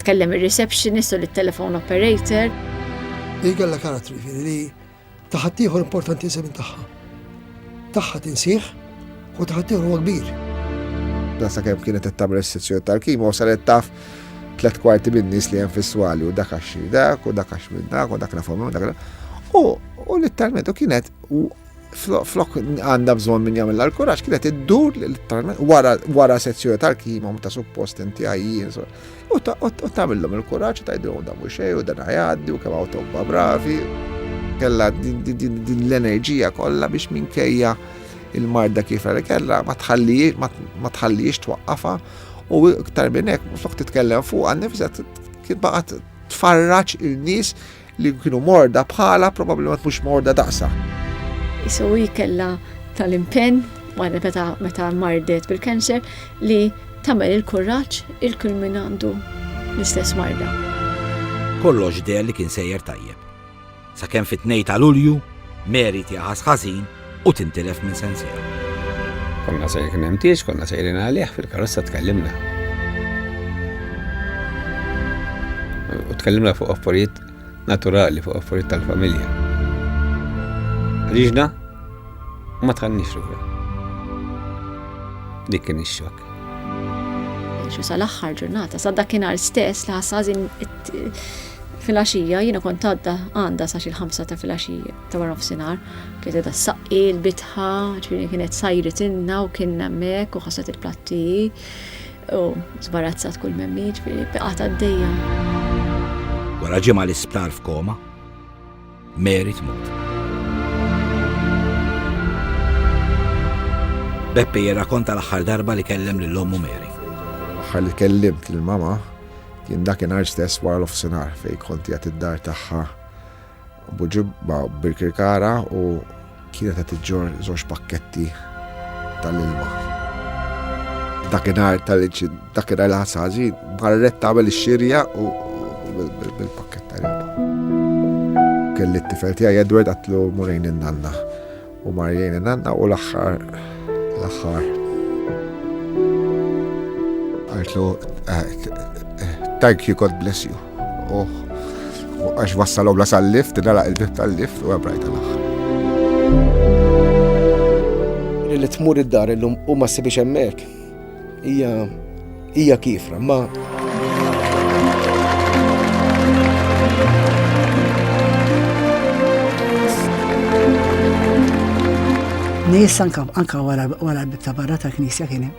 Tkellem ir-receptionist u lit-telephone operator. Hi kellha karattru, jiġifieri li ta' ħaddieħor importanti iżjed minn tagħha. Tagħha tinsih u ta' ħaddieħor huwa kbir. Dan sakemm kienet qed tagħmel is-sezzjoni tal-kimo u saret taf tliet kwarti min-nies li hemm fis-swali u dak għax dak u dak għax minn dak u dak nafhom u dak. U litteralment u kienet flok għandha bżonn min jagħmel l-kuraġġ kienet iddur literalment wara sezzjoni tal-kima ta' suppost inti għajjin. U tagħmilhom il-kuraġġ tgħidilhom da mhux xejn u dan għajaddi u kemm hawn tobba bravi. Kella din l-enerġija kollha biex minkejja il-marda kif li kellha ma tħallix twaqqafa u iktar minn hekk flok titkellem fuq għan nifset kien baqgħet tfarraġ il-nies Li kienu morda bħala probabbilment mhux morda daqsa. Isu hi kellha tal-impenn wara meta meta mardet bil-kanċer li tagħmel il-kuraġġ il-kull min għandu l-istess marda. Kollox deher li kien sejjer tajjeb. Sakemm fit-tnejn ta' Lulju, Mary tieha ħażin u tintilef minn sensiela. Konna se kien hemm tieġ, konna sejrin għalih fil-karozza tkellimna. U tkellimna fuq affarijiet naturali, fuq affarijiet tal-familja. Riġna ma tħannix ruħu. Dik kien ix-xokk xu sal-axħar ġurnata, sa dakinhar stess li ħassazin fil-axija, jina kont għadda għanda sa xil-ħamsa ta' fil-axija. ta' wara nofsinhar, kienet edha saqqi l-bitħa, ġifieri kienet sajret inna u kien hemmhekk u ħasset il-platti u zbarazzat kull memmi, ġifieri biqgħet għaddejja. Wara ġimgħa l-isptar f'koma, Mary tmut. Beppe jirrakonta l-aħħar darba li kellem lil ommu Mary. Aħħar li kellimt lil mama kien dakinhar stess wara l-ofsinhar fejn konti għat id-dar tagħha Bu ġibba birkirkara u kienet qed iġġor żewġ pakketti tal-ilma. Dakinhar tal-dakinhar li ħassa ħażin, marret tagħmel ix-xirja u bil-pakkett tal-ilma. Kelli t-tifel tiegħi Edward għatlu murejn in-nanna. U mar lejn in-nanna u l-aħħar l-aħħar. Għaltlu thank you, God bless you. U għax wassalhom la sal-lift, nalaq il-bib tal-lift u għabrajt l-aħħar. Li tmur id-dar illum u ma ssibix hemmhekk. Hija hija kifra ma Nis anka anka wara wara ta' barra ta' knisja kien hemm.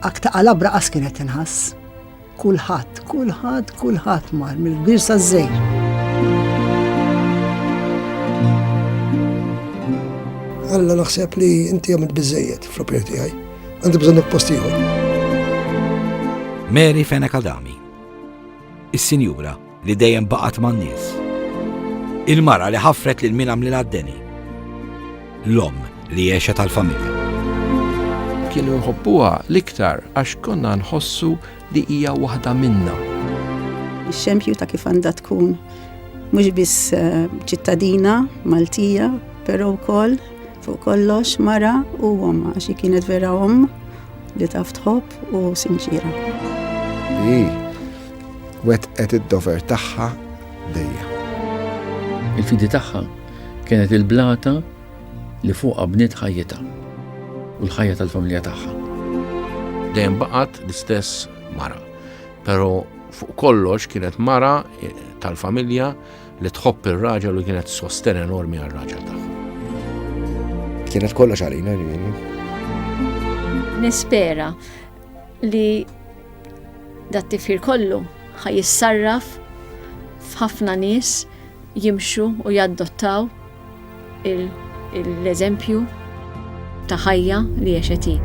Akta qalabra qas kienet tinħass. Kulħadd, kulħadd, kulħadd mar mill-kbir saż-żejr. Alla naħseb li inti għamilt biżejjed fl-opinjoni tiegħi. Għandi bżonn post ieħor. Mary Feneka Dami. Is-Sinjura li dejjem baqgħet man-nies. Il-mara li ħaffret lil min għamlilha d-deni. L-omm li għexet għall-familja. Kienu nħobbuha l-iktar għax konna nħossu li hija waħda minna. Ix-xempju ta' kif għandha tkun mhux biss eh, ċittadina Maltija, però wkoll fuq kollox mara u omma, xi kienet vera omm li taf tħobb u sinċira. Wettqet id-dover tagħha dejjem. Il-fidi tagħha kienet il-blata li fuqha bniet ħajjitha u l-ħajja tal-familja tagħha. Dejjem baqgħet l-istess mara, però fuq kollox kienet mara eh, tal-familja li tħobb ir-raġel u kienet sosten enormi għal-raġel tagħha. Kienet kollox għalina ġifieri. Nispera li dat tifħir kollu ħa jissarraf f'ħafna nies jimxu u jaddottaw l-eżempju ta' ħajja li jexeti.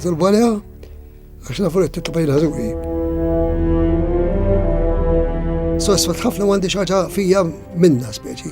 Zolbalja, għax nafu li t-tabajla ħazuri. Sosfat ħafna għandi xaġa fija minna speċi.